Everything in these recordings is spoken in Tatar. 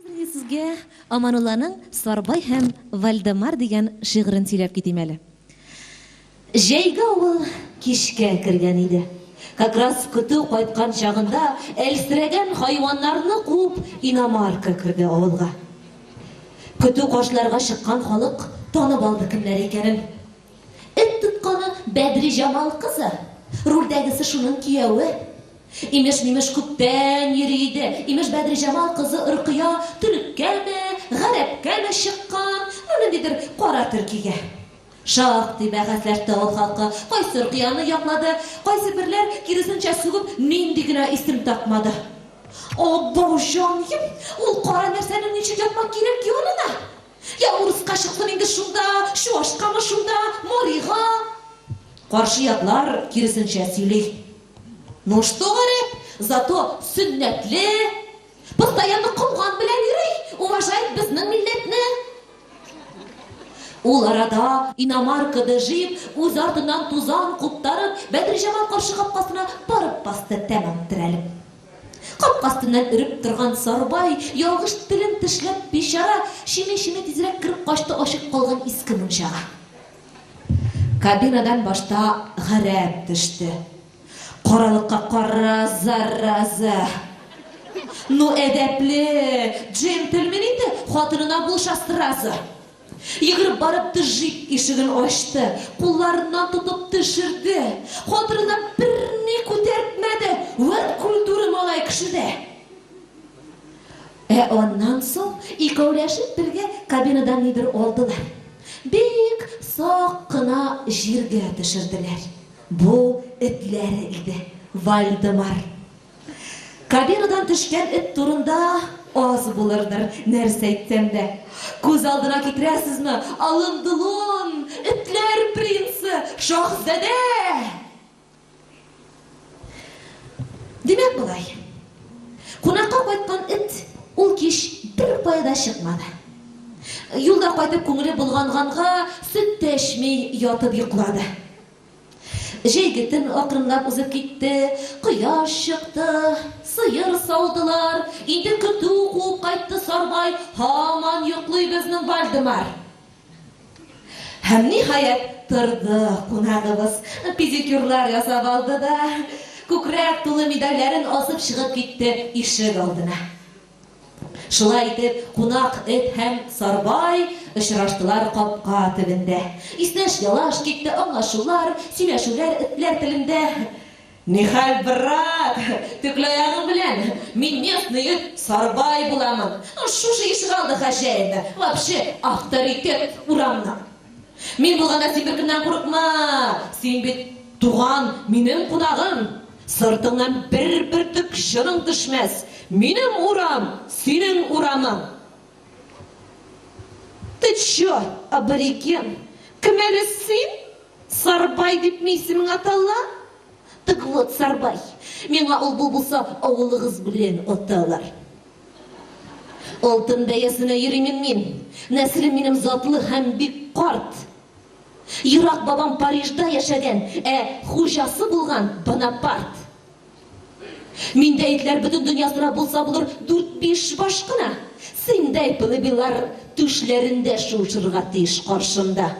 Хәзер мин сезгә Аманулланың Сарбай һәм Вальдемар дигән шигырен сөйләп китим әле. Җәйге авыл кичкә кергән иде. Как раз көтү кайткан чагында әлсерәгән хайваннарны куып иномарка керде авылга. Көтү каршыларга чыккан халык танып алды кемнәр икәнен. Эт тотканы Бәдриҗамал кызы, рульдәгесе шуның кияве. Имеш-мимеш күптән йөри иде. Имеш Бәдриҗамал кызы Оркыя төреккәме, гарәпкәме чыккан, ну ниндидер кара төркигә. Шактый бәхәсләште авыл халкы, кайсы Оркыяны яклады, кайсы берләр киресенчә сүгеп нинди генә исем тапмады. Абау җаныем, ул кара нәрсәнең ничек ятмак кирәк ки анына? Я урыска чыктым инде шунда, чуашкамы шунда, марига. Каршы яклар киресенчә сөйли. Ну что, гарәп, зато сөннәтле, постоянно комган белән йөри, уважает безнең милләтне. Ул арада иномаркада җыеп, үз артыннан тузан куптарып, Бәдриҗамал каршы капкасына барып басты тәмам терәлеп. Капка астыннан өреп торган Сарбай, ялгыш телен тешләп, бичара, чими-чими тизрәк кереп качты ачык калган иске мунчага. Кабинадан башта гарәп төште. Каралыкка кара, зараза! Ну, әдәпле, джентльмен инде, хатынына булыша сразу. Йөгереп барып тыжик ишеген ачты, кулларыннан тотып төшерде. Хатырына берни күтәртмәде, вәт культура малай кешедә! Ә аннан соң икәүләшеп бергә кабинадан нидер алдылар. Бик сак кына җиргә төшерделәр. Бу этләре иде, Вальдемар. Камерадан төшкән эт турында аз булырдыр, нәрсә әйтсәм дә. Күз алдына китерәсезме? Алын Дулон, этләр принцы, шаһзадә! Димәк болай. Кунакка кайткан эт ул кич бер кая да чыкмады. Юлда кайтып күңеле болганганга, сөт тә эчми ятып йоклады. Җәйге төн акрынлап узып китте. Кояш чыкты. Сыер саудылар. Инде көтү куып кайтты Сарбай. Һаман йоклый безнең Вальдемар. Һәм, ниһаять, торды кунагыбыз. Педикюрлар ясап алды да күкрәк тулы медальләрен асып чыгып китте ишек алдына. Шулай итеп, кунак эт һәм Сарбай очраштылар капка төбендә. Иснәш-ялаш китте, аңлашулар, сөйләшүләр этләр телендә. Нихәл, брат, текла ягың белән, мин местный эт, Сарбай буламын. Шушы ишегалды хозяины, вообще авторитет урамның. Мин булганда син беркемнән курыкма! Син бит туган, минем кунагым! Сыртыңнан бер бөртек чының төшмәс! Минем урам, синең урамың! Ты чё, абориген? Кем әле син? Сарбай дипме исемең атала? Так вот, Сарбай, миңа ул-бу булса, авылыгыз белән аталар. Алтын бәясенә йөримим мин. Нәселем минем затлы һәм бик карт. Ерак бабам Парижда яшәгән, ә хуҗасы булган Бонапарт. Миндә итләр бөтен дөньясына булса булыр дүрт-биш баш кына. Синдәй пылыбилар түшләрендә шуышырга тиеш каршымда.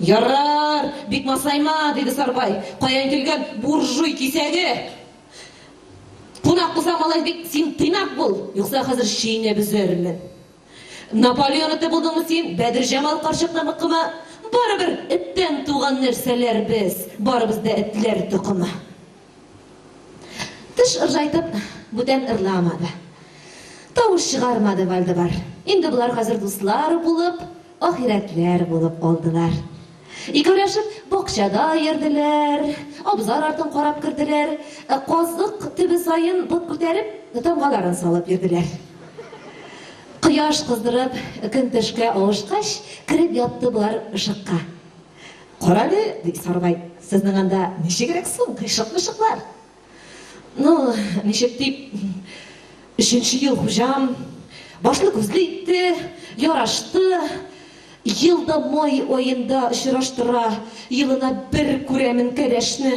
Ярар, бик масайма, диде Сарбай. Каян килгән буржуй кисәге? Кунак булса, малай бик син тыйнак бул, юкса хәзер чәйнәп өзәрмен. Наполеон эте булдыңмы син, Бәдерҗамал карчык тамыкыма? Барыбер эттән туган нәрсәләр без, барыбыз да этләр токымы. Теш ыржайтып, бүтән ырламады. Тавыш чыгармады Вальдебар. Инде болар хәзер дуслар булып, ахирәтләр булып калдылар. Икәүләшеп бакчада йөрделәр, абзар артын карап керделәр, ә казык төбе саен бот күтәреп, тамгаларын салып йөрделәр. Кояш кыздырып, көн төшкә авышкач, кереп ятты болар ышыкка. Карале, ди Сарбай, сезнең анда ничегрәк соң, кыйшык-мышыклар? Ну, ничек дип, өченче ел хуҗам башлы-күзле итте, ярашты, ел да май аенда очраштыра, елына бер күрәмен кәләшне.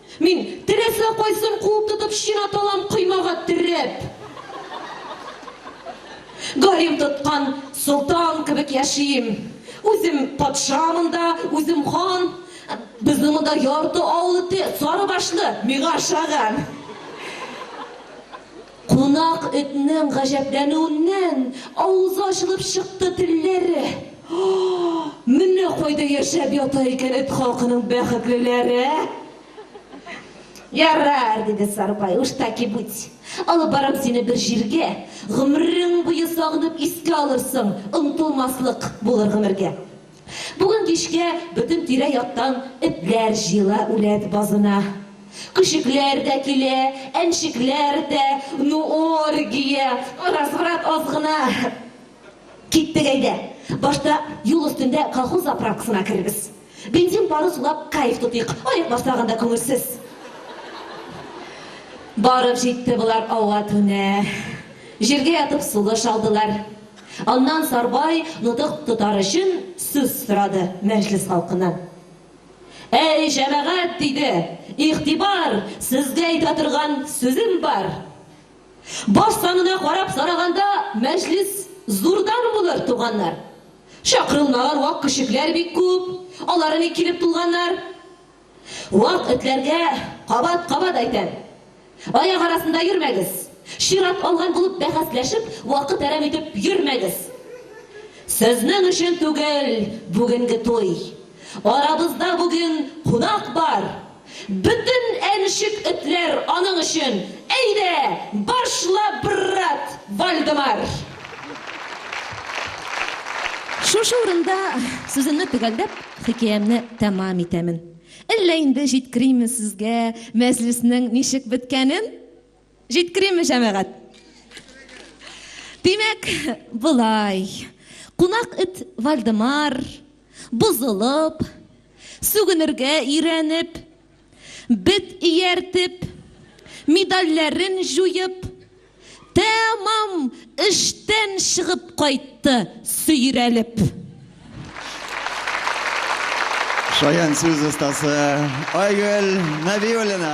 Мин, теләсә кайсын куып тотып чинап алам, коймага төреп. Гарем тоткан солтан кебек яшим. Үзем патша монда, үзем хан. Безнең монда ярты авыл эте, сарыбашлы, миңа ошаган. Кунак этнең гаҗәпләнүеннән авызы ачылып чыкты, телләре, О-о-о! Менә кайда яшәп ята икән эт халкының бәхетлеләре! Ярар, диде Сарбай, уж так и быть. Алып барам сине бер җиргә, гомерең буе сагынып искә алырсың, онытылмаслык булыр гомергә. Бүген кичкә бөтен тирә-яктан этләр җыела үләт базына. Көчекләр дә килә, әнчекләр дә, ну, оргия! Разврат аз гына. Киттек, әйдә, башта юл өстендә колхоз заправкасына керербез. Бензин пары сулап кайф тотыйк, аяк басмаган да күңелсез. Барып җитте болар ава-түнә. Җиргә ятып сулыш алдылар. Аннан Сарбай нотык тотар өчен сүз сорады мәҗлес халкыннан. Әй, җәмәгать, диде, игътибар, сезгә әйтә торган сүзем бар. Баш санына карап сораганда, мәҗлес зурдан булыр, туганнар. Чакырылмаган вак-күчекләр бик күп, алар ник килеп тулганнар? Вак этләргә кабат-кабат әйтәм, аяк арасында йөрмәгез! Чират алган булып бәхәсләшеп, вакыт әрәм итеп йөрмәгез! Сезнең өчен түгел бүгенге туй! Арабызда бүген кунак бар! Бөтен әншек этләр аның өчен! Әйдә, башла, брат Вальдемар! Шушы урында сүземне төгәлләп. Хикәямне тәмам итәмен. Әллә инде җиткериме сезгә мәҗлеснең ничек беткәнен? Җиткериме, җәмәгать? Димәк, болай. Кунак эт Вальдемар, бозылып, сүгенергә өйрәнеп, Бет ияртеп, медальләрен җуеп, тәмам эштән чыгып кайтты, сөйрәлеп. Шаян сүз остасы Айгөл Нәбиуллина.